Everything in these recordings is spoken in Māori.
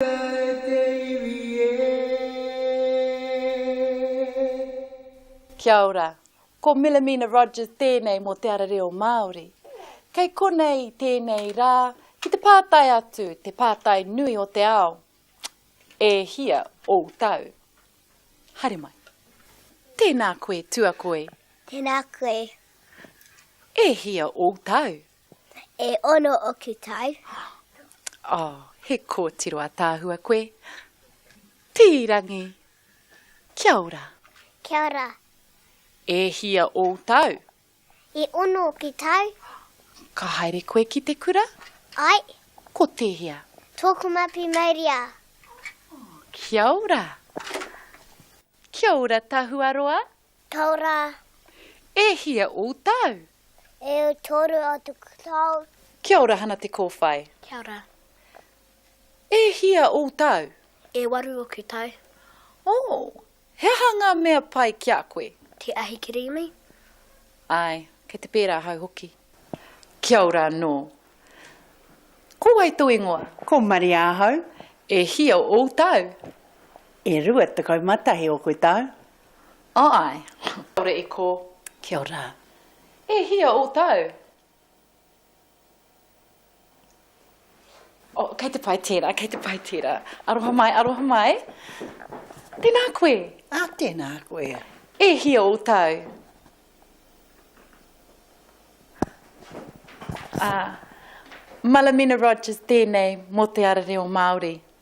Tika e te iwi e. Kia ora, ko Milamina Rogers tēnei mō Te Ara Reo Māori. Kei konei i tēnei rā ki te pātai atu te pātai nui o te ao, E hia ōu tau? Haere mai. Tēnā koe, tuakoi. Tēnā koe. E hia ōu tau? E ono oku tau. Oh, he kōtiro ataahua koe. Pīrangi. Kia ora. Kia ora. E hia ou tau? E ono oku tau. Ka haere koe ki te kura? Ai. Ko tēhea? Tōku mapi mauria. Kia ora. Kia ora Tahuaroa. Tau rā. E hia outou? E toru atu tau. Kia ora Hana Te Kowhai. Kia ora. E hia outou? E waru oku tau. Oh. He aha nga mea pai ki a koe? Te ahi kirīmi. Ae, kei te pērā ahau hoki. Kia ora anō. Ko wai tou ingoa? Ko Maria ahau. E hia outou? E rua tekau ma tahi oku tau. Āe. Kāore e kō. Kia ora. E hia ō tāu? Oh, kei te pai tērā, kei te pai tērā. Aroha mai, aroha mai. Tēnā koe. Ah, tēnā koe. E hia ō tāu? Ah, Malamina Rogers tēnei mō Te Ara Reo Māori.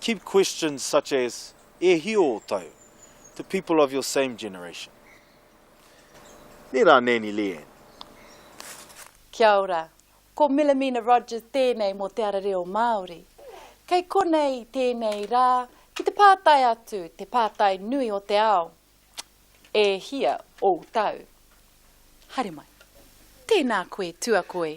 Keep questions such as E hio o tau to people of your same generation. Nē rā Nanny Leanne. Kia ora. Ko Millamina Rogers tēnei mō Te Ara Reo Māori. Kei konei tēnei rā ki te pātai atu te pātai nui o te ao, E hia ou tau? Haere mai. Tēnā koe, Tuakoi.